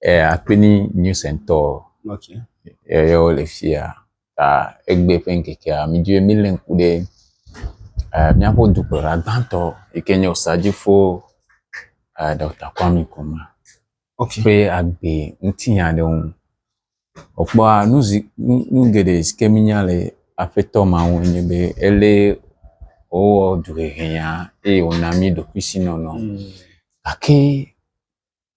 eh, akpini news and tour okay. yeyewo le fia ta egbe ƒe ŋkekea midzi be mílé ŋku ɖe eh, míaƒe dukplɔla gbãtɔ yi ke nye osadifo eh, dɔkta kwami kuma okay. ƒe agbe ŋuti nya ɖe ŋu wòkpɔa nu geɖe si ke mínya le aƒetɔ ma ŋu nye be elé wowɔ duhehe ya eye wòna mí ɖokuisinɔnɔ mm. gake mm.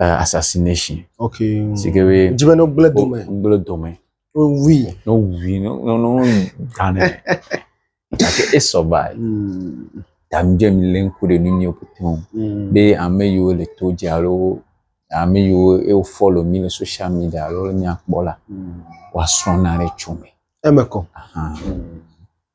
uh, assassination. Ok. Si ke be. Dzi be ne gblẽ dome. Gblẽ dome. Wui. Ne wui ne ne ne gane. Gake esɔ ba. Tamdze mi le ŋku ɖe nu nyiwo pete o. Be ame yiwo le to dzi alo ame yiwo ewo follow mi le social media alo le mia kpɔ la. Woasrɔ̃ na ɖe tso me. Eme kɔ. Ahan.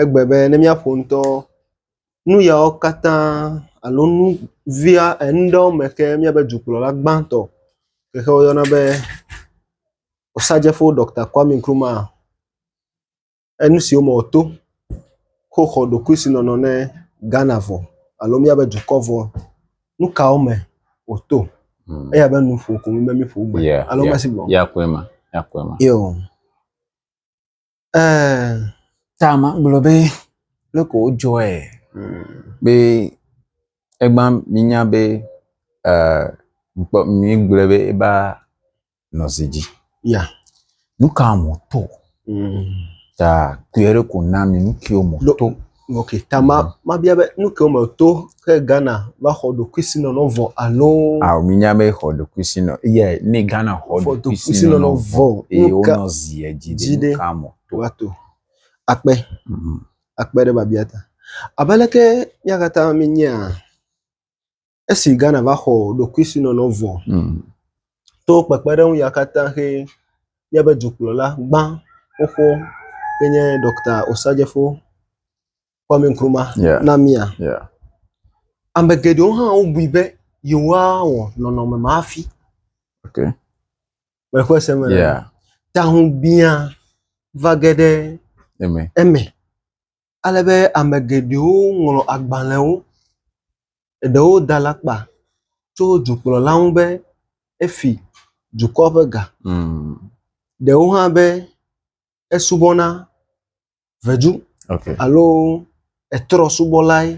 egbe be ne míaƒo ŋutɔ nu yawo katã alo nu via nu ɖewo me ke míabe dukplɔla gbãtɔ yi ke woyɔna be Osagyefo Ɖɔkta Kwame Nkrumah enu siwo me wòto ko xɔ ɖokuisinɔnɔ ne Ghana vɔ alo míabe dukɔ vɔ. Nu kawo me wòto? Eya abe nuƒo ko wònye be míƒo gbe alo mese gbe o. Yea, yea, yea koe ma, yea koe ma. Yo. Eee. Ta magblɔ be leke wodzɔe be egba minya be eee mikpɔ migblɔe be eva nɔ zi dzi. Ya. Nu ka mɔto? Ta kuyɔɖe ko na mi nu kiwo mɔto. Ok, ta ma, mabia be nu ke wome to ke Ghana va xɔ ɖokuisinɔnɔ vɔ alo. Ao minya be xɔ ɖokuisinɔ ye ne Ghana xɔ ɖokuisinɔnɔ vɔ eye wonɔ zi edzi ɖe nu ka mɔ to. Wato akpe mhm. akpe ɖe babia ta. Abe leke míakatã míenyea Esi Ghana va xɔ ɖokuisinɔnɔ vɔ mm. to kpekpeɖeŋu ya katã xe míaƒe dukplɔla gbã xoxo ke nye Dɔkta Osajefo Kwame Nkrumah yeah. na mía. Yeah. Ame geɖewo hã wobui be yewoawɔ nɔnɔme ma hafi. Okay. Mexɔ se me. Yeah. Tahu biã va ge ɖe eme. eme. ale be ame geɖewo ŋlɔ agbalẽwo, eɖewo da alakpa tso dukplɔla ŋu be efi dukɔ ƒe ga, ɖewo hã be esubɔ na vedu alo etrɔ subɔlae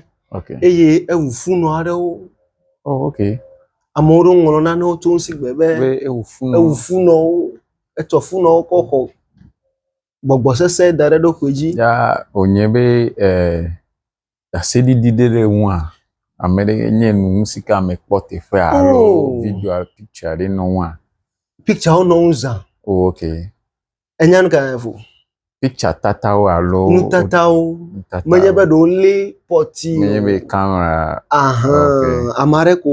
eye eŋu funɔ aɖewo. Amewo ɖewo ŋlɔ nanewo tso ŋuti gbe be eŋu funɔwo, etsɔ funɔwo kɔ xɔ. gbɔgbɔ sesẽ da ɖe ɖoƒe dzi. Ya wònye be ɖaseɖiɖi ɖe ɖe ŋua ame ɖe nye nu si ka ame kpɔ teƒea alo oh. video alo picture ɖe nɔ ŋua. Picture wo nɔ ŋu zã. O oh, ok. Enya nu ka yẹn fo. Picture tatawo alo. Nutatawo. Nutatawo. Menye be ɖewo lé pɔti. Menye be kamera. Ahan. Ame aɖe ko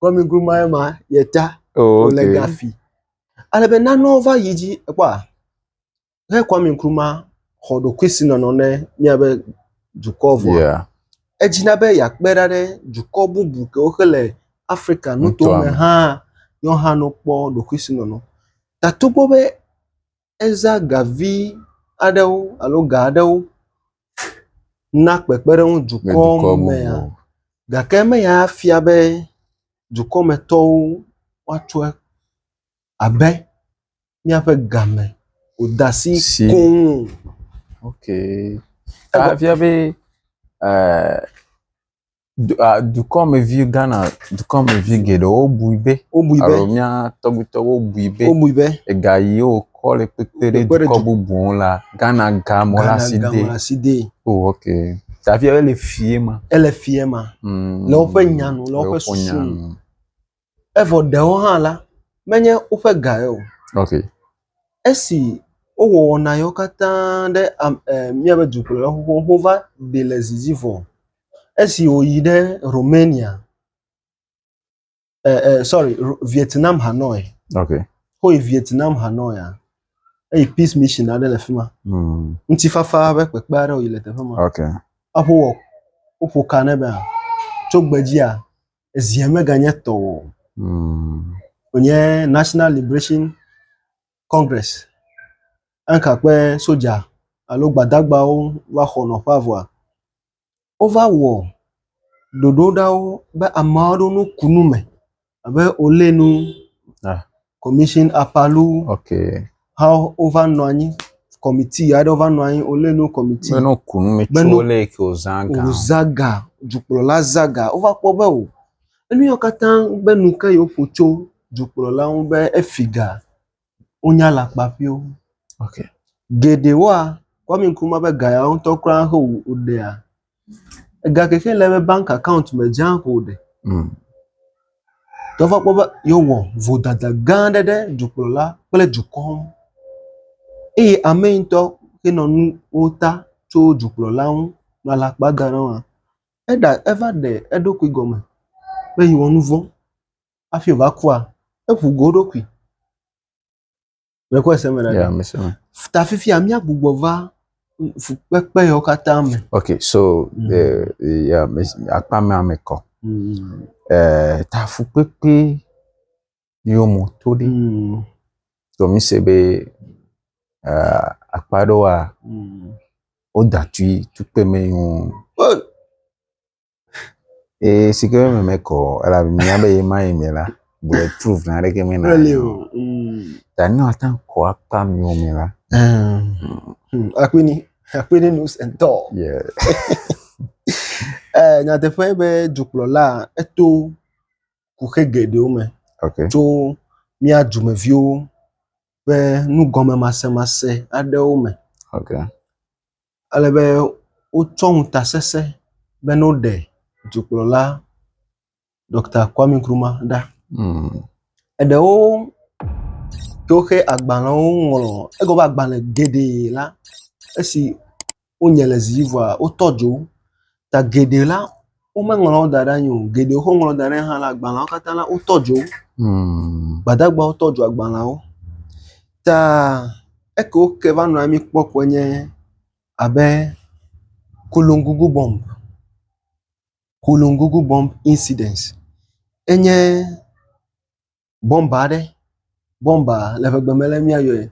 Kɔmigrumae ma ye ta oh, wòle okay. gafi. Ale be nanewo va yi dzi ekpɔa ne Kɔmigruma xɔ ɖokui si nɔnɔ ne míabe dukɔ vɔa yeah. edzina be yeakpe ɖa ɖe dukɔ bubu kewo xe le Afrika nuto me hã yɔhã no kpɔ ɖokui si nɔnɔ. Tatogbo be Eza ga vi aɖewo alo ga aɖewo na kpekpeɖeŋu dukɔ mea? Gake meya fia be dukɔmetɔwo woatsɔ abe míaƒe game ƒodasi koŋ o. Ok. Efia be e… du a dukɔmevi Ghana dukɔmevi geɖewo bui be wobui be alo mía tɔgbuitɔwo bui be wobui be ega yi wokɔ le kpekpe ɖe Kpekpe ɖe dukɔ du- bubu ŋu la Ghana ga mɔ la si Ghana de. gamla si de Oh ok. Tafia ele fie ma. ele fie ma Mm. Le woƒe nya nu, le woƒe susu nu. Evɔ ɖewo hã la, menye woƒe gae o. Okay. Esi wowɔ wɔna yewo katã ɖe am e míaƒe dukplɔla xoxowo ŋu va ɖi le zidzi vɔ. Esi wòyi ɖe Romania e e sɔri Vietnam Hanoi. Okay. Woyi Vietnam Hanoia eyi Peace Mission aɖe le fi ma. Mm. Ŋutifafa ƒe kpekpe aɖe wòyi le teƒe ma. Okay. Aƒo wɔ woƒo ka ne be tso gbedzia Ezia meganye tɔ o. Hmm. Wònye National Liberation Congress. Eka kpe soja alo gbadagbawo va xɔ nɔƒea vɔa, wova wɔ ɖoɖo ɖawo be ameawo ɖo no kunu me abe olé nu. Ah. commission apalu okay ha wova nɔ anyi kɔmiti aɖewo va nɔ anyi wolé nu kɔmiti bene woku nu mi tso lé ke wozã ga wozã ga dukplɔla zã ga wova kpɔ be o enu yawo katã be nu ke yewoƒo tso dukplɔla ŋu be efi ga wonya alakpa ƒio okay geɖewoa kwami nkrumah ƒe ga ya ŋutɔ kura he woɖea Ega keke le eƒe bank account me dze aŋ ko ɖe. Mm. Ke va kpɔ be yewɔ vodada gã aɖe ɖe dukplɔla kple dukɔ ŋu. Eye ame yi ŋutɔ henɔ nuwo ta tso dukplɔla ŋu nɔ alakpa da ɖe eŋu. Eɖa eva ɖe eɖokui gɔme be yewɔ nu vɔ̃ hafi wòva kua, eŋu go eɖokui. Mekɔ ese me ɖaɖa. Ya mese me. Ta fifia míagbugbɔ va fukpekpe yawo katã me. Ok so mm. eh, ya akpa mea me kɔ. Mm. Eh, ta fukpekpe yiwo mo to ɖi. Mm. So mi se be eh, akpa ɖewoa mm. wodatui tukpe me ŋu. Oh. Ee, si ke me mekɔ elabe mía be ye ma ye me la, bullet proof na ɖeke me na. Really o. Mm. Da ne wata kɔ akpa mi o me la. Hmm. Akpini, akpini news and talk. Yeah. Eh, nyateƒe be dukplɔla eto kuxe geɖewo me Okay. tso mía dumeviwo ƒe nugɔmemasemase aɖewo me. Okay. Ele be wotsɔ ŋutasesẽ be ne woɖe dukplɔla Ɖɔkta Kwame Nkrumah ɖa. Mm. Eɖewo to woƒe agbalẽwo ŋlɔ egɔ be agbalẽ geɖe la esi wonye le zi vɔa wotɔ dzo ta geɖe la womeŋlɔ wo da ɖe anyi o geɖe wokɔ ŋlɔ da ɖe anyi hã la agbalẽawo katã la wotɔ dzo wo. Hmm. Gbadagbawo tɔ dzo agbalẽawo. Ta eke woke va nɔ anyi kpɔ koe nye abe Kolongugu bomb, Kolongugu bomb incident enye bɔmba aɖe, bɔmba le ƒe gbe me ale mía yɔe,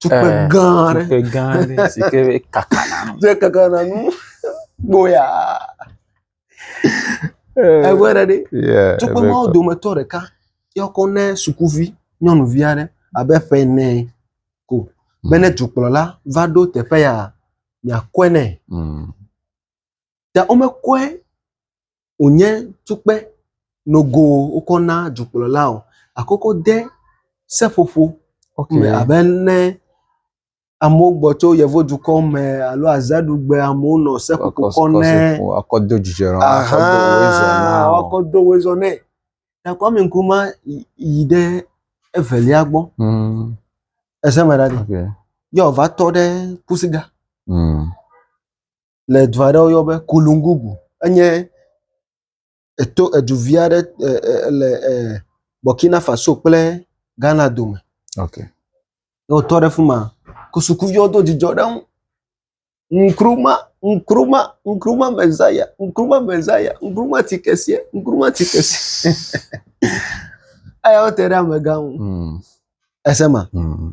tukpe eh, gã aɖe, tukpe gã aɖe si ke kaka na nu, dze kaka na nu, gboya, eh, egbɔ ɖe ɖe, tukpe mawo dometɔ ɖeka yɔkɔ ne sukuvi nyɔnuvi aɖe abe ƒe ene ko hmm. be ne dukplɔla va ɖo teƒe ya miakɔe nɛ. Hmm. Ta womekɔe wònye tukpe nogo wokɔ na dukplɔla o gakoko de seƒoƒo me abe ne amewo gbɔ tso yevudukɔ me alo azaɖugbe amewo nɔ seƒoƒo kɔ ne woakɔ do dzidzɔe nɔ woakɔ do woe zɔ na wo. Woakɔ do woe zɔ nɛ. Ta Kwame Nkrumah yi ɖe evelia gbɔ. Mm. Ese me ɖa ɖi. Okay. Yɔ va tɔ ɖe kusiga. Mm. le du aɖe woyɔ be Kolungugu. Enye eto edu vi aɖe e e le e Burkina Faso kple Ghana dome. Ok. Ne wotɔ ɖe fi ma ko sukuviwo do dzidzɔ ɖe eŋu. Nkrumah, Nkrumah, Nkrumah Messiah, Nkrumah Messiah, Nkrumah ti keseɛ, Nkrumah ti keseɛ. Eyawo te ɖe amegã ŋu. Mm. Esema. Mm.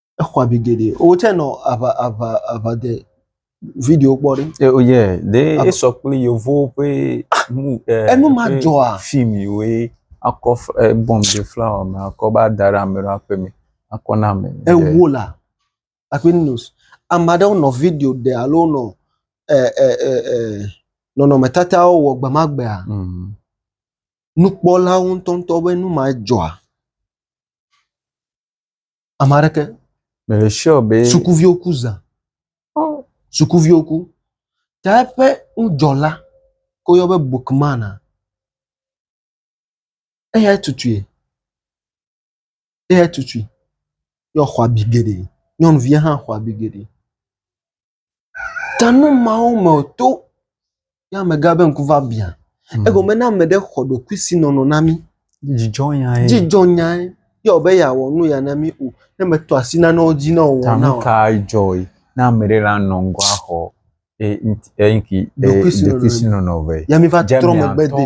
exɔ abi geɖe wò tsɛ nɔ aʋa aʋa aʋa de video kpɔ ɖi. Eh, oh yeah, ɖe Aba- esɔ kple yevuwo ƒe mu ɛ Enu ma ƒe dzɔa? fim yiwoe akɔ f- ɛ, bɔm ɖe flawa me akɔ va da ɖe ame ɖewo aƒe me akɔ na ame. ɖe. ewo la akpɛ news ame aɖewo nɔ video ɖe alo nɔ ɛ ɛ ɛ ɛ nɔnɔmetatawo wɔ gbe ma gbea Mm. nukpɔlawo ŋutɔŋutɔ be nu ma dzɔa Ame aɖeke. Me le sure be. Sukuviwo ku zã. Oh. Sukuviwo ku. Ta eƒe ŋudzɔla ko yɔ be bookman a. Eya tutui. Eya tutui. Yɔ xɔ abi geɖe. Nyɔnuvia hã xɔ abi geɖe. Ta nu mawo me to ne amegã ƒe ŋku va bia. Egome ne ame ɖe xɔ ɖokuisinɔnɔ na mí. Dzidzɔnya ye. Dzidzɔnya ye. Ye wɔ be yeawɔ nu ya na mí o. Ne meto asi nanewo dzi ne wòwɔ nam. Ta nu kae dzɔe ne ame ɖe la nɔ ŋgɔ axɔ eŋki ɖokuisinɔnɔ vɛ? Ya miva trɔ megbe de.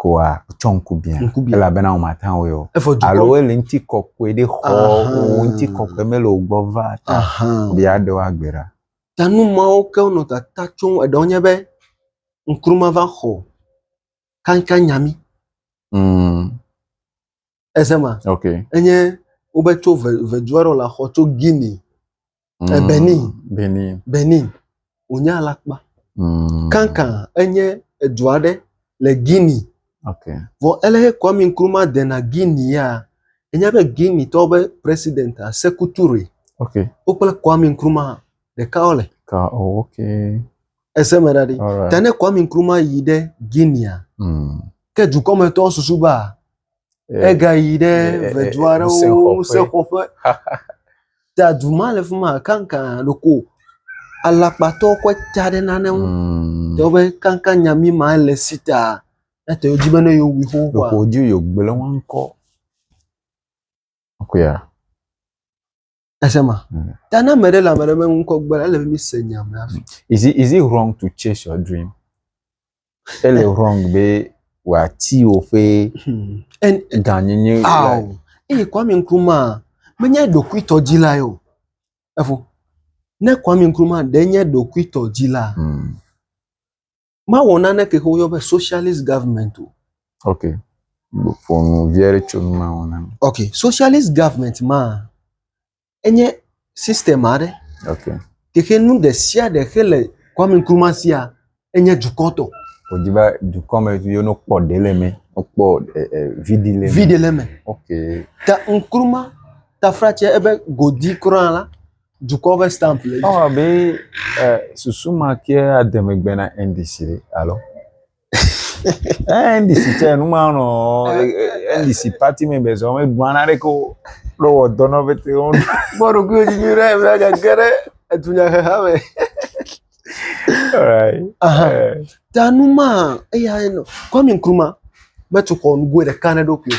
koa tsɔ ŋku bia elabena womata ŋui o alo ele ŋuti kɔkɔe ɖe xɔ wò ŋuti kɔkɔe mele wò gbɔ va ta be yeaɖe wò agbe ɖa. Ta nu mawo ke wonɔ tata tsom eɖewo nye be ŋku mava xɔ kankannya mí. ese ma ok enye wobe tso ve vedu aɖe le xɔ tso guinea Mm, Eh, Benin. Benin. benin wònye alakpa Mm, kankan enye edu aɖe le guinea ok vɔ ele he kwami nkrumah dena guinea ya enya be guinea tɔwo be president a seku ture ok wo kple kwami nkrumah ɖeka wo le ka oh, ok ese me ɖa ɖi alright ta ne kwami nkrumah yi ɖe guinea Mm, ke dukɔmetɔwo susu be a, Egayi ɖe vedu aɖewo ŋusẽxɔƒe. Ta du ma le fi ma kanka ɖeko alakpatɔ kɔ ta ɖe nane ŋu. Mm. Tɔ be kanka nyami ma le si ta. Ete dzi be ne yewu xoxoa. Ɖeko dzi yogblẽ ŋkɔ. Akuya. Ese ma. Mm. Ta na ame ɖe le ame ɖe me ŋkɔ gbe la, ele be mi se nya me afi. Is it is it wrong to chase your dream? Ele wrong be wòati woƒe Hmm. And gãnyenye le. aw. Eye Kwame Nkrumah menye ɖokuitɔ dzila ye o. Efo. Ne Kwame Nkrumah ɖe nye ɖokuitɔ dzila, Mm. mawɔ naneke ke woyɔ be socialist government o. ok ƒo nu vi aɖe tso nu mawɔ na mi. ok socialist government ma enye system aɖe. ok keke nu ɖe sia ɖe xe le Kwame Nkrumah sia enye dukɔ tɔ. wòdi be dukɔ me viwo no kpɔ ɖe le me kpɔ eh, eh, vidi le me. vidi le me. ok ta Nkrumah tafra tse ebe godi kura la. dukɔ ƒe stamp le edzi. Ewɔ abe eh, susu ma ke ade megbe na NDC ɖe alo. Eh, NDC tse nu ma nɔ NDC party me be zɔ megblɔa na ɖeke o. Ɖo wɔ dɔ na bete wo. Kpɔ ɖokuiwò dzi nyuie ɖe be agage ɖe edunyaheha me. Alright. Aha. Eh, Ta nu ma eya nɔ Kwame Nkrumah metu xɔ nugoe ɖeka na eɖokui o.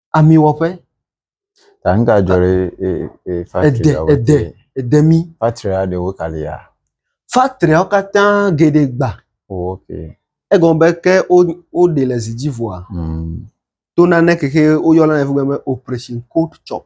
amiwɔƒe. Ta nu ka dzɔ ɖe e e factory aɖe ede ede mi. Factory aɖewo ka li ya. Factory awo katã geɖe gba. Oh, ok. Egɔme be ke wo woɖe le zi dzi vɔa. Mm. To nane keke woyɔna ne fugbe be operation cold chop.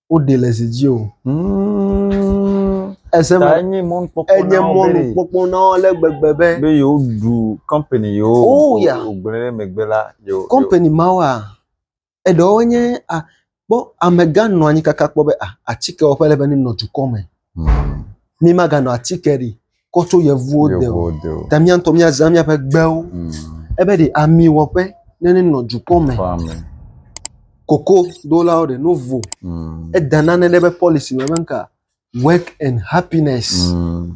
woɖe le zi dzi o. Ese me enye mɔnukpɔkpɔ enye mɔnukpɔkpɔ na wo ale gbegbe be be yewoɖu kɔmpani yewo oh, yeah. wogblẽ ɖe megbe la yewo kɔmpani mawoa eɖewo nye a kpɔ amegã nɔ anyi kaka kpɔ be a atike wɔƒe le be nenɔ dukɔ me. Mi ma ga nɔ atike ɖi kɔ tso yevuwo de o. Ta mi antɔ mi azã mi aƒe gbewo. Mm. Ebe ɖe ami wɔƒe ne ne nɔ dukɔ me. Koko do la o ɖe no vo. Mm. Eda nane ɖe be policy me be nka work and happiness. Mm.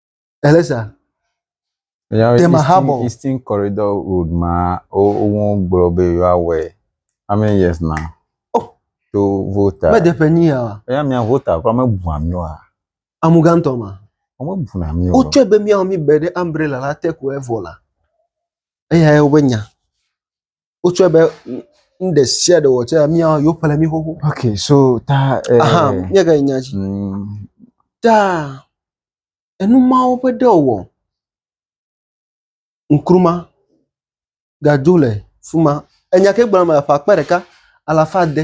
Eleza. Yawe Dem Eastern, Ahabo. Eastern Corridor Road ma wo- wo- wogblɔ be yewoawɔe. How many years now? Oh. To vota. Mede ƒe nyi ya. Eya mia vota kura mebua mi wa. Amugãtɔ ma. Womebuna mi o. Wotsɔe be míawɔ mí be ɖe umbrella la te ko evɔ la. Eyae wobe nya. wotsɔe be nu ɖe sia ɖe wɔtsɛ mía yewo ƒle mí xoxo. ok so ta. aha nye ka nya dzi. Mm. ta enu mawo ƒe ɖe wɔ nkruma gadzo le fuma enya ke gblɔm le aƒe akpa ɖeka alafa de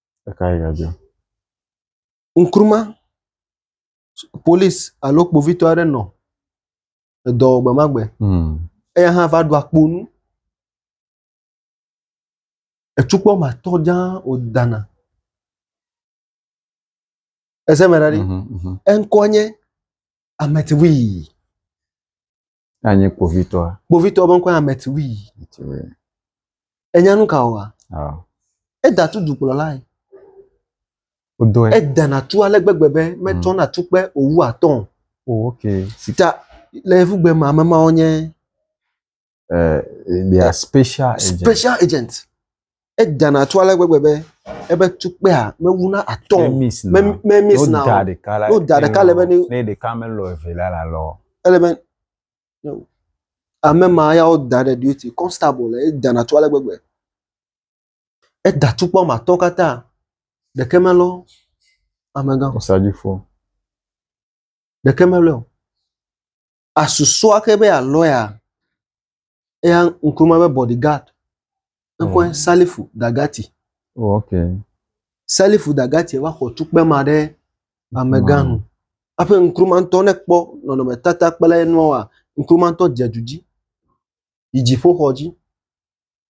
Ekae gadzɔ? Ŋkruma, polisi alo kpovitɔ aɖe nɔ edɔ wɔ gbe ma gbe. Hmm. Eya hã va ɖu akpo nu. Etsukpɔ ma tɔ dzã wòdana. Ese me ɖa ɖi. Mhm, mhm. Eŋkɔ nye Ametivui. Anyi kpovitɔa. Kpovitɔa ƒe ŋkɔe Ametiwi. Ametiwi. Enya nu ka wɔa? Ah. Eda tu dukplɔlae. Wodɔe. Edana tu ale gbegbe be metsɔna mm. tukpe owu atɔ. Oh, okay. Sita le evugbe ma ame mawo nye. Uh, they are special agents. Special agents. edana tso ale gbegbe be ebe tukpea mewu na atɔ o. Me miss na o. N'o da ɖeka le be ne. Ne ɖeka me lɔ eve la la lɔ. Ele be ame ma ya wo da ɖe duty constable le edana tso ale gbegbe. Eda tukpa wɔme atɔ katã ɖeke me lɔ amegã. Osadifo. Ɖeke me lɔ. Asusɔ axe be a lɔya eya Nkrumah ƒe bɔdi gad ŋkɔe oh. Salifu Dagati. Oh, okay. Salifu Dagati va xɔ tukpe ma ɖe amegã nu. Aƒe Nkrumah ŋutɔ ne kpɔ nɔnɔmetata kple nua Nkrumah ŋutɔ dze du dzi. Yi dziƒoxɔ dzi.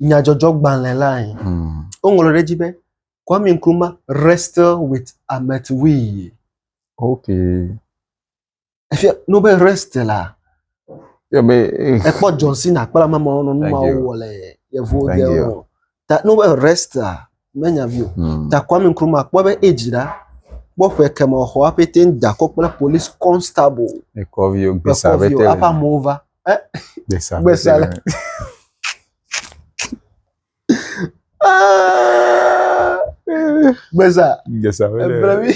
nyadzɔdzɔgbalẽ lae. Hmm. Woŋlɔ ɖe edzi be Kwame Nkrumah wrestle with Ahmed Wee. Okay. Efia no be wrestle la. Yeah, but, eh. Ekpɔ John Cena kple ame mawo nɔ nu mawo wɔ le yevuwo de o. Ta no be wrestle la menya vi o. Hmm. Ta Kwame Nkrumah kpɔ be age la kpɔ ƒe kemɔ xɔ apɛtɛ da kɔ kple police constable. Ekɔ vi o gbesa apɛtɛ. Ekɔ vi o apa mova. gbesa gbesa le gbesa gbesa ebere mi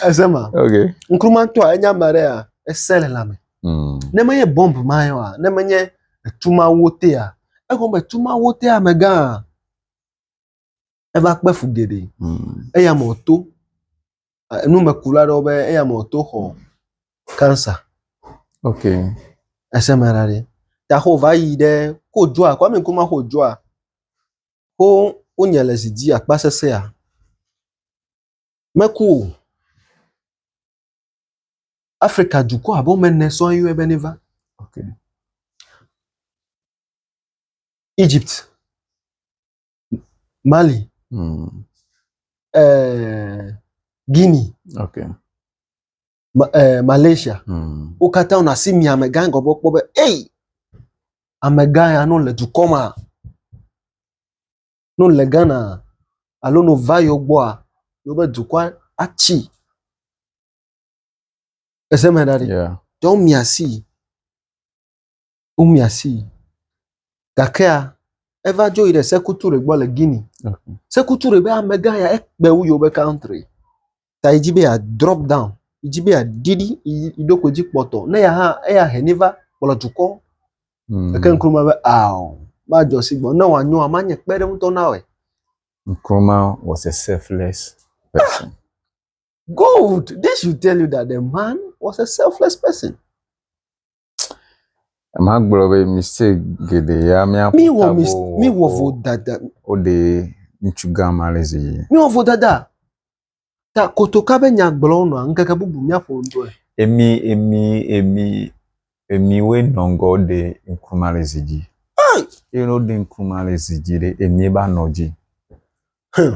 ese ma okay nkrumantɔ a enya ma ɖe ya ese le lame mm. ne menye bɔmb ma yɔ a ne menye etu ma wo te a egɔme tu ma wo te amegã a eva kpe fu geɖe hmm. eya me wòto numekula aɖewo be eya me wòto xɔ cancer ok ese me ɖa ɖe ta xɔ va yi ɖe ko dzoa kwame nkuma xɔ dzoa ko wonye le zi dzi akpa sesea meku o afrika dukɔ abe wɔme ene sɔ yɔe be ne va okay. egypt Mali, mm. eh, Guinea, okay. Ma, eh, Malaysia. Mm. Wo katã wona asi mi amegã ŋgɔ gbɔ kpɔ be, ei, amegã ya no le dukɔ ma, no le Ghana alo no va yewo gbɔa, yewobe dukɔa atsi. Ese me ɖa ɖi. Yeah. Tɔwo mi asi. womia sii. Gakea eva dzo yi ɖe Sekou Toure gbɔ le Guinea. Sekou Toure be amegã ya ekpe wu yewo be country ta yi dzi be ya drop down yi dzi be ya ɖi ɖi yi yi ɖokui dzi kpɔtɔ ne ya hã eya hɛn yi va kplɔ dukɔ. Mm. Eke Nkrumah be ao madzɔ si gbɔ ne wòanyoa manye kpeɖeŋutɔ na wɔe. Nkrumah was a selfless person. Gold, this should tell you that the man was a selfless person. Magblɔ be mistake geɖe ya míaƒo tago. Míwɔ mis míwɔ vodada. Woɖe ŋutsu gã ma le zi. Míwɔ vodada. Ta kotoka be nya gblɔ nɔa ŋkeke bubu míaƒo ŋdɔe. Emi emi emi emi woe nɔ ŋgɔ ɖe ŋku ma le zi dzi. Eye ne woɖe ŋku ma le zi dzi ɖe emi ba nɔ dzi. Hmm.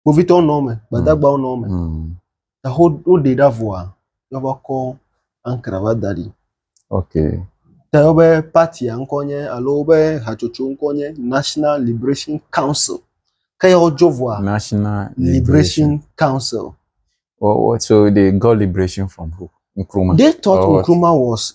kpovitɔwo nɔ eme gbadagbawo nɔ eme eho woɖe ɖa vɔa yɔva kɔ ankra va da ɖi okay te wobe partia ŋkɔ nye alo wobe hatsotso ŋkɔ nye national liberation council ke ya wodzo vɔa national liberation council what, what so they got liberation from who Nkrumah. They thought oh, Nkrumah was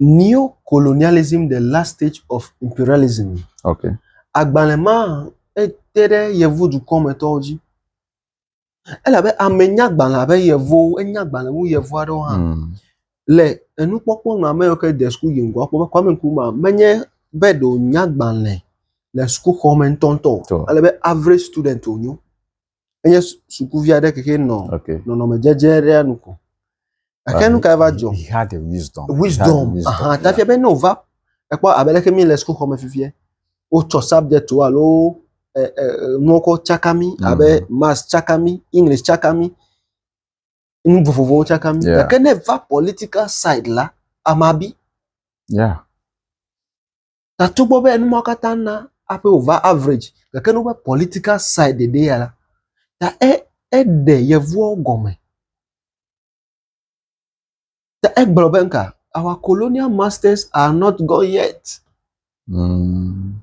Neo-colonialism, The Last Stage of Imperialism. Okay. Agbalẽ ma ete ɖe yevu dukɔmetɔwo dzi. Elabe ame nya agbalẽ abe yevuwo, enya agbalẽ wu yevu aɖewo hã. Mm. Le enukpɔkpɔ nɔ ame yiwo ke de suku yi ŋgɔ akpɔ be Kwame Nkrumah menye be ɖe wònya agbalẽ le sukuxɔ me ŋutɔŋutɔ o. Elabe average student wònyo. enye sukuvi aɖe keke nɔ okay. nɔnɔme dzedze aɖea nu ko gake nu ka va dzɔ wisdom wisdom aha tafia be ne wòva ekpɔ abe leke mi le sukuxɔ me fifia wotsɔ subject wo alo nuwo kɔ tsaka mi mm. abe maths tsaka mi english tsaka mi nu vovovowo tsaka mi gake ne va political side la amabi yeah. Ta togbɔ be nu ma katã na hafi wòva average gake ne woƒe political side ɖe ya la, ta e eɖe yevuwo gɔme. Ta egblɔ be ŋka, our colonial masters are not gone yet. Mm.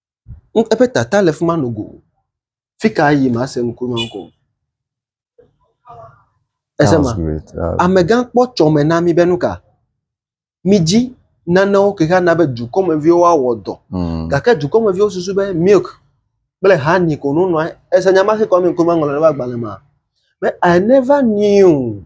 Eƒe tata le fi ma nogo. Fi ka yim ase ŋku ma ŋkɔ o. Ese ma? Amegã kpɔ tsɔ me na mí be nu ka? Mídzi nanewo ke hã na be dukɔmeviwo woawɔ dɔ. Hmm. Gake dukɔmeviwo susu be milk kple honey ko no nɔa. Ese nya ma si kɔ mi ŋku ma ŋlɔ ɖe agbalẽ ma. Be I never knew.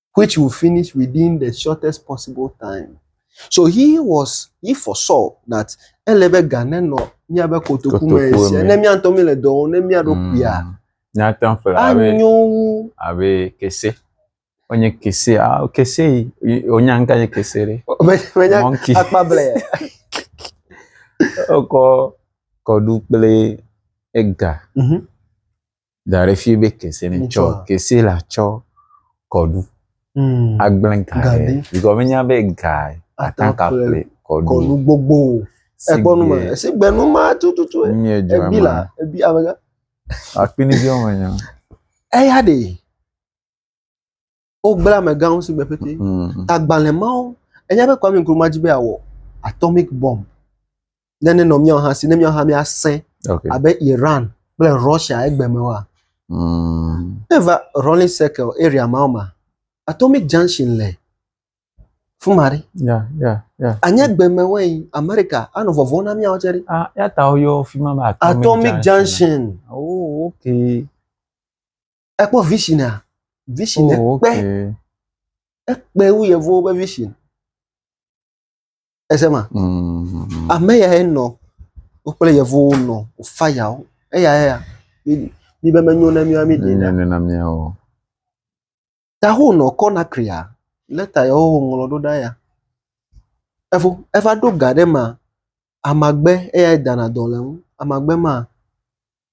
which will finish within the shortest possible time. So he was he foresaw that ele be ga nenɔ míabe kotoku me Kotoku sia me. ne míatɔ míele dɔ wɔm ne mía ɖokuia Mm. Míate ŋu ƒle abe anyo wu abe kese. Wonye kese. Ah, kese yi- yi- wonya ŋka nye kese ɖe. Me- menya Monkey. akpa blɛ Wokɔ kɔɖu kple ega. Mhm. da ɖe fi be kese ne tsɔ kese la tsɔ kɔɖu hmm. agblẽ gaɖe bikɔ menya be ga ata ka ƒle kɔɖu kɔɖu gbogbo ekpɔnu me esi gbenu ma tututu ebi la ebi amega akpini bi wɔmenya eya de Wogblẽ amegãwo si gbe pɛtɛ. Mm. Agbalẽ mawo, enya be Kwame Nkrumah dzi be awɔ atomic bomb. Ne ne nɔ míawo hã si, ne míawo hã míasẽ okay. abe Iran kple Russia egbe me wa. Mm. Eva Rolling Circle area mawo ma, Atomic Junction le fún ma ɖe. ya ya ya. anya gbeme wɛn amerika anɔ vɔvɔ na miawo tsɛ ɖe. ah ya ta woyɔ fi ma be atomic, atomic junction. junction. oh okay. Ekpɔ visinia. Vision oh, ekpe. Okay. Ekpe wu yevuwo ƒe vision. Ese ma. Mm. Ame ya ye nɔ wokple yevuwo nɔ fayawo. Eya ya. Mi be menyo na mi wa mi ɖe. Ne na mi o. Ta ho nɔ kɔ na kria. Leta ya wo ŋlɔ ɖo ɖa ya. Evo eva ɖo ga ɖe ma. Amagbe eya dana dɔ le ŋu. Amagbe ma.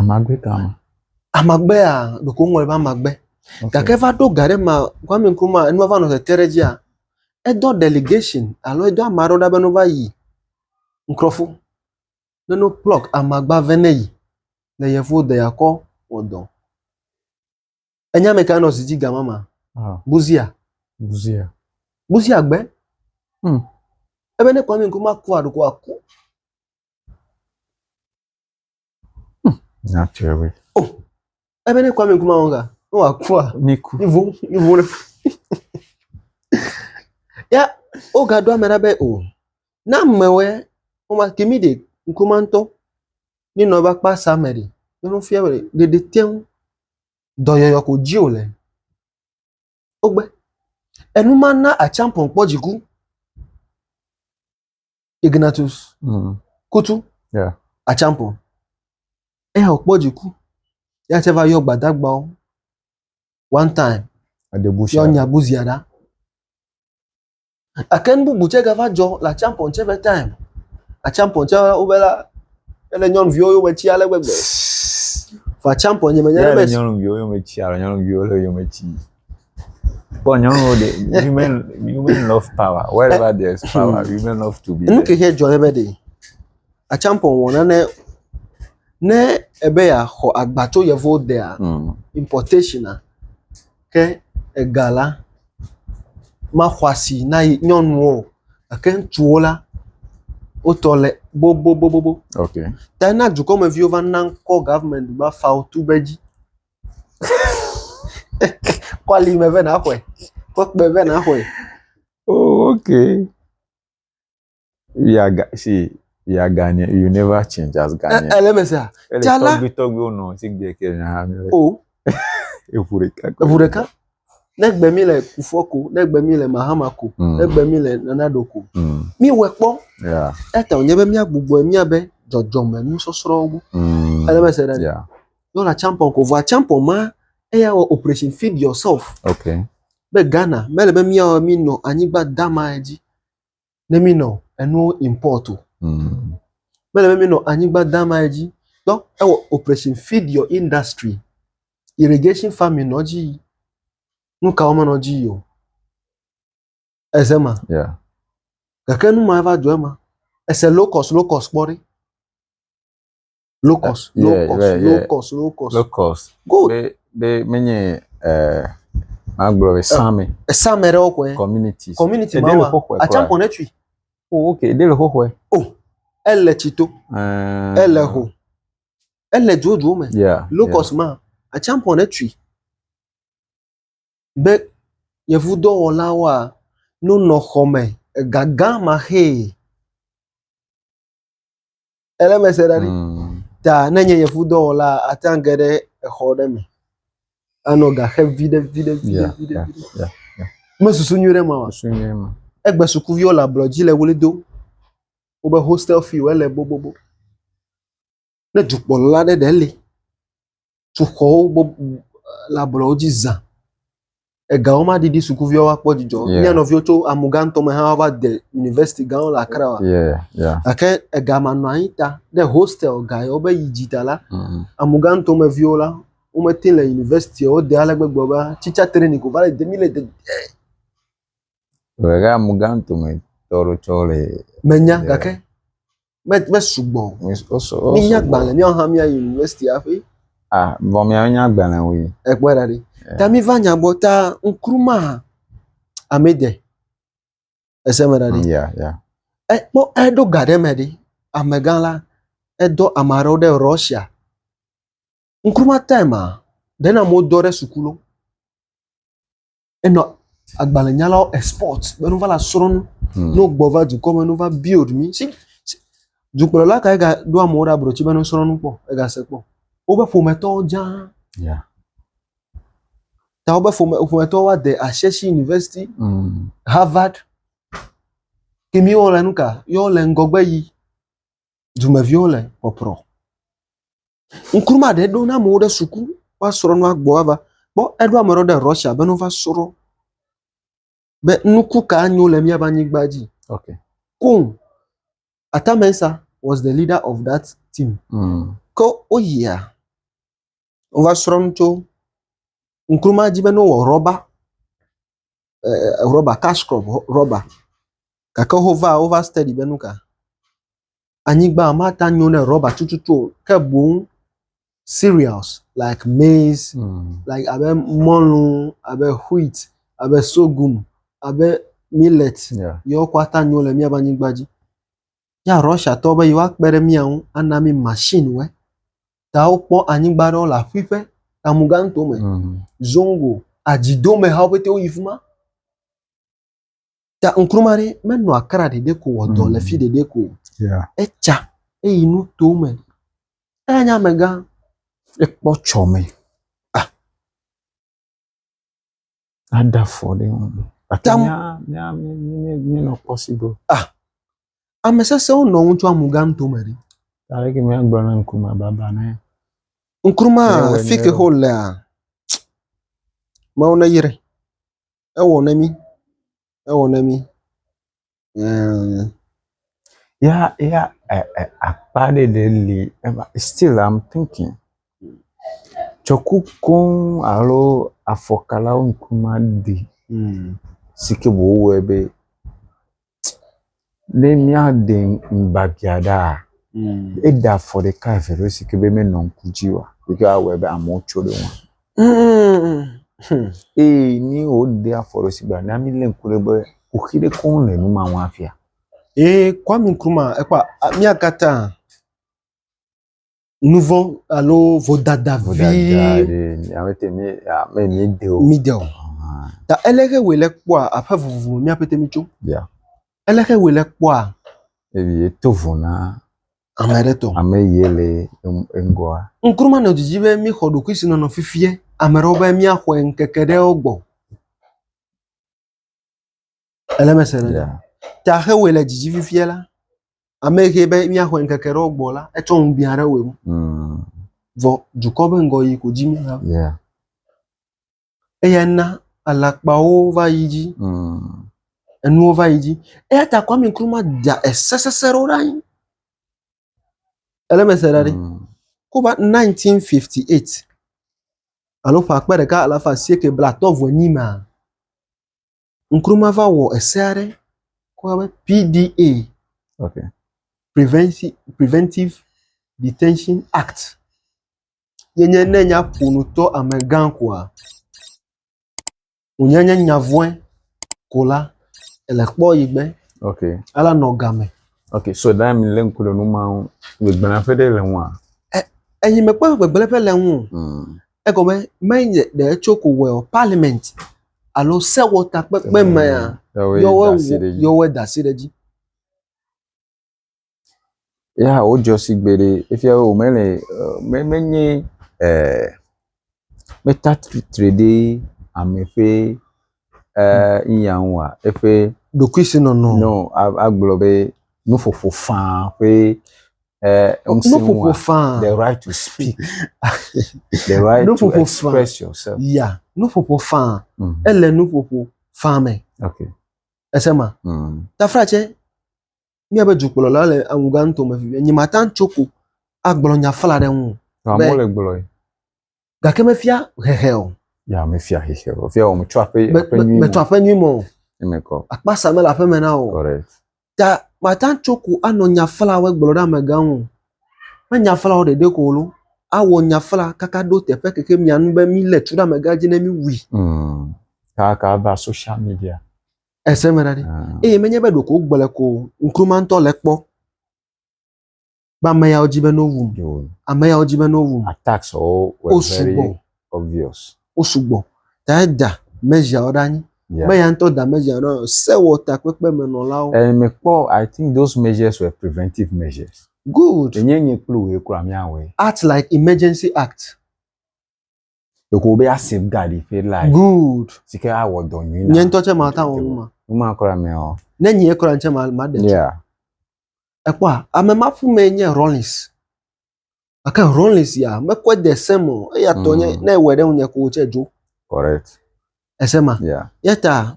Amagbe ka ma? Amagbe ya ɖeko woŋlɔ ɖe be amagbe. Okay. Gake va ɖo ga ɖe ma Kwame Nkrumah enua va nɔ tete ɖe dzia, edɔ delegation alo edɔ ame aɖewo ɖa be ne wova yi Nkrɔfo be ne wo pluck amagba vɛ ne yi le yevuwo dɔ yakɔ wɔ dɔ. Enya me ka nɔ si dzi gama ma? Ah. Buzia. Buzia. Buzia gbe. Hmm. Ebe ne Kwame Nkrumah ku aɖo ko aku. Hmm. Nyatɛwe. Oh. Ebe ne Kwame Nkrumah wɔn ka, ne wɔ aku a. Ne ku. Ivo, ivo ne. ya, o ga do ame ɖa be o. Na mewɛ, o ma kimi de Nkrumah ŋutɔ. Míe nɔ eƒe akpa sia me ɖi. Ye nu fia be ɖeɖi te ŋu dɔyɔyɔ ko dzi wòle. Wogbe. Enu ma na Acheampong kpɔ dziku. Ignatius mm. Kutu. Yeah. Acheampong. Eya wòkpɔ dziku. Ya tse va yɔ gbadagbawo. One time. Adebusia. Yɔ Nyabusia ɖa. Gake nu bubu tsɛ gava dzɔ le atsiã pɔn tsɛ ƒe time. Atsiã pɔn tsɛ wobe la, ele nyɔnuviwo yome tsi ale gbegbe. Vɔ atsiã pɔn nye menye be. Nyɔnuviwo yome tsi alo nyɔnuviwo le yome tsi. Kpɔ nyɔnuwo de women women love power wherever there is power hmm. women love to be. Nu ke xe dzɔ ne be de atsiã pɔn wɔ nane ne ebe ya xɔ agba tso yevuwo dea hmm. importation a. Ke ega la maxɔ asi na ye nyɔnuwo o gake ŋutsuwo la, wo tɔ le bobobobobo. Ok. Ta na dukɔmeviwo va na ŋkɔ government be afawo tu be dzi. Kɔ ali me be naxɔe, kɔ kpɛ be naxɔe. Oo ok. we are ga see we are Ghanaian you never change as ɛ Ghanaian. ɛ lɛmɛ sia ele tsa la tɔgbi tɔgbiwo nɔ si gbe ke nya ha mi le o eʋu ɖeka ko eʋu le ɖeka ne gbe mi le kufɔ ko ne gbe mi le mahama ko Mm. ne gbe mi le nana ɖo ko Mm, mi wɛ kpɔ yeah, eta wònye be mía gbugbɔe mía be dzɔdzɔme nusɔsrɔ̃wo gbɔ mm, ele mɛ se ɖe yeah, yɔ la champon ko vɔa champon ma eya wɔ operation feed yourself okay, be Ghana mele be mía mi nɔ anyigba dama dzi ne mi nɔ enuwo import o. Mm. Mele be mi nɔ anyigba dama ye dzi. Donc ewɔ operation feed your industry. Irrigation farming nɔ dzi yi. Nu kawo menɔ dzi yi o. Eze ma. Yeah. Gake nu ma va dzɔ ema. Ese low cost low cost kpɔ ɖi. Low cost, uh, low yeah, cost, yeah, low yeah. cost, low cost. Low cost. Good. Be be menye eh magblɔ be same. Eh, same ɖe wokɔe. Community. Community ma wa. Atsa kɔn etui. Oh okay, de le xoxoe. Oh. Ele tsito. Uh, ele ho. Ele dzodzo me. Yeah. Low yeah. cost ma. Atsa kɔn etui. Be yevu dɔwɔlawoa nonɔ xɔme egagã ma xee. Ele me se ɖa ɖi. Mm. Ta ne nye yevu dɔwɔla ate ŋu ge ɖe exɔ ɖe me. Anɔ ga xe viɖe viɖe viɖe viɖe. Me susu nyui ɖe ma wa. Susu nyui ma. Egbe sukuviwo le ablɔ dzi le wuli dom. Wobe hostel fee wo ele bobobo. ne dukplɔla aɖe ɖe li, sukuxɔwo bɔbɔ le ablɔwo dzi za, ega wo ma ɖiɖi sukuviwo ma kpɔ dzidzɔ o, mía nɔviwo tso amugã ŋutɔ me hã va de University gã wo le Accra wa, gake ega ma nɔ anyi ta ne hostel ga yi wo be yi dzi ta la, mm. amugã ŋutɔ me viwo la, wo me te le University wo de ale gbegbe be teacher training ko va le de mi le de. Ɣe amugã ŋutɔ me tɔɖo tsɔ le. Menya gake. me me sugbɔ o. Mi- wo su- wo Mínya sugbɔ. gbalẽ míawo hã míayi university hafi Ah, vɔ miawo nya gbalẽ wui. ekpɔe ɖa ɖi. Eh. Ta míva nya gbɔ ta ŋkruma amede. Ese me ɖa ɖi. Ya, ya. Ekpɔ eɖo ga ɖe me ɖi. Amegã la edɔ ame aɖewo ɖe Russia. Ŋkruma time a ɖe na amewo dɔ ɖe suku lo. enɔ agbalẽnyalawo export be nu va la srɔ̃ nu. Hmm. Ne wogbɔ va dukɔ me, nu va build mi. Si, si dukplɔla kae ga ɖo amewo ɖe abrotsi be nu srɔ̃ nu kpɔ, ega se kpɔ. Woƒe ƒometɔwo dza. Yeah. Ta woƒe ƒome, ƒometɔwo wa de Ashesi University, mm. Harvard. Ke mi wo le nu ka? Yo le ŋgɔgbe yi. Dumeviwo le pɔprɔ. Ŋkume ɖe ɖo na amewo ɖe suku woasrɔ nua gbɔ va. Kpɔ eɖo ame aɖewo ɖe Russia be ne wova srɔ be nuku ka nyo le miaƒe anyigba dzi. Okay. Koŋ. Atta Mensah was the leader of that team. Mm. Ke woyia wova srɔ nu tso ŋkuruma dzi be ne wowɔ rɔba eh, rɔba cash crop rɔba gake wova wova study be nu ka anyigba mate ŋu anyo ne rɔba tututu o ke boŋ cereals like maize, mm. like abe mɔlu, abe wheat, abe sorghum, abe millet yeah. yewo katã nyo le míaƒe anyigba dzi. Ya Russiatɔwo be yewoakpe ɖe mía ŋu ana mí machine wɔ. Ta wokpɔ anyigba aɖewo le aƒuiƒe Tamuganto me, mm. Zongo, adzidomehawo ƒete woyi fi ma. Ta ŋkruma ɖe menɔ akra ɖeɖe ko wɔ dɔ le fi ɖeɖe ko. Etsa eyi nu to me. Eya nye amegã. Ekpɔ tsɔ me. Ah. Ada fɔ ɖe ŋu. Tam. Mi nɔ possible. Ah. Ame sesẽwo nɔ ŋutsua mu gã to me ɖi. Aleke mi agblɔ na ŋkruma baba ne. Ŋkruma fike ho lea. Mawu ne yire. ewɔ na mí, ewɔ na mí ɛɛɛɛ ya ya ɛɛ ɛɛ akpa ɖe ɖe li eva still am thinking tsɔ ku koŋ alo afɔkalawo ŋku maɖi si ke wòwɔe be. ne míade ŋugbafia ɖaa, eɖe afɔ ɖeka eve ɖe si ke be menɔ ŋku dzi oa, si ke awɔe be amewo tso ɖe eŋu. Eye ne woɖe afɔ ɖe si gbea, na mílé ŋku ɖe be kuxi ɖe koŋ le nu ma ŋu afia. Ee, Kwame Nkrumah ekpɔ a- mía katã. nu vɔ̃ alo vodada vi Vodada ɖe mi- ame te mi ah, me mi de o. mi de o. Ah, Ta ele xe wòle kpɔa aƒe vovovo mi aƒete mi tso. Yeah. Ele xe wòle kpɔa Eye to vɔ na ame aɖe tɔ. ame ye le en- eŋgɔa. Nkrumah nɔ didi be mi xɔ ɖokuisinɔnɔ fifia ame ɖewo be miaxɔe ŋkeke ɖewo gbɔ. Ele me se ɖe. Yeah. Ta xe wòe le dzidzi fifia la. Ame yi ke be míaxɔ ŋkeke ɖewo gbɔ la, etsɔ ŋu biã ɖe wòe ŋu. Mm. Vɔ dukɔ be ŋgɔ yi ko dzi míeha. Yeah. Eya na alakpawo va yi dzi, Mm. enuwo va yi dzi. Eya ta Kwame Nkrumah da ese sesẽ ɖewo ɖe anyi. Ele mese ɖa ɖi. Mm. Ko va 1958 alo ƒe akpe ɖeka alafa asieke blatɔ vɔ nyi ma. Nkrumah va wɔ ese aɖe ko be PDA. Okay. Preventive, Preventive Detention Act. Yenye ne nya ƒonutɔ amegã koa wònye nye nya vɔ̃e ko la, ele kpɔ yi gbe. Ok. Ala nɔ game. Ok, so ɖa mi lé ŋku ɖe nu ma ŋu, gbegblẽ ƒe ɖe le ŋua? Enyi mekpɔ gbegblẽ ƒe le ŋu. Hmm. Egɔme menye ɖe etso ko wɔe o, parliament alo sewɔtakpekpe mea, yɔwoe da asi ɖe edzi. ya wodzɔ si gbeɖe efia be womele e menye e mete atsitre ɖe ame ƒe e nuya ŋu oa eƒe ɖokuisinɔnɔ nɔ agblɔ be nuƒoƒo faa ƒe e ŋusẽ ŋua the right to speak the right to express yourself ya nuƒoƒo faa mm. ele nuƒoƒo faa me okay. ese ma mm. tafra tse míabe dukplɔla le awuga ŋutɔ me vevie. Nye mate ŋu tso ko agblɔ nya fla ɖe eŋu o. Nɔ amewo le gblɔe. Gake mefia hehe o. Ya mefia hehe o. Fia wɔm tso aƒe aƒe nyui me. Metsɔ aƒe nyui me o. Emekɔ. Akpasa mele aƒe me na o. Correct. Ta mate ŋu tso ko anɔ nya flawo gblɔ ɖe amegã ŋu o. Me nya flawo ɖeɖe ko o lo. Awɔ nya fla kaka ɖo teƒe keke mia nu be milé tu ɖe amegã dzi ne miwui. Mm. Kaka va social media. Èse me ɖa ɖi. Ah. Eye menye be ɖeko wogblɔe ko o, ŋkume ŋutɔ le ekpɔ be ame yawo di be ne wowum, Yo, ame yawo di be ne wowum, attacks wo were Wo very sugbɔ. obvious. wosugbɔ. Ta eda measure ɖe anyi. Yeah. Be ya ŋutɔ da measure ɖe anyi. Sewɔtakpekpemenɔlawo. Eh, mekpɔ, I think those measures were preventive measures. Good. Enye nye kple wòe kura míawɔe. Act like emergency act. Ɖeko wobe ya safeguard yi ƒe life. Good. Si ke awɔ dɔ nyui na. Nye ŋutɔ tse mata wɔ nu ma. Nu ma kura mɛ o. Ne nyee kura tse ma ma ɖe. Yeah. Ekpɔa ame ma ƒu mɛ nye Rollins. Ake Rollins ya mekɔe de se me o. Eya tɔ nye mm. ne ewɔe ɖe ŋunye ko tse dzo. Correct. Ese ma. Yeah. Yeta.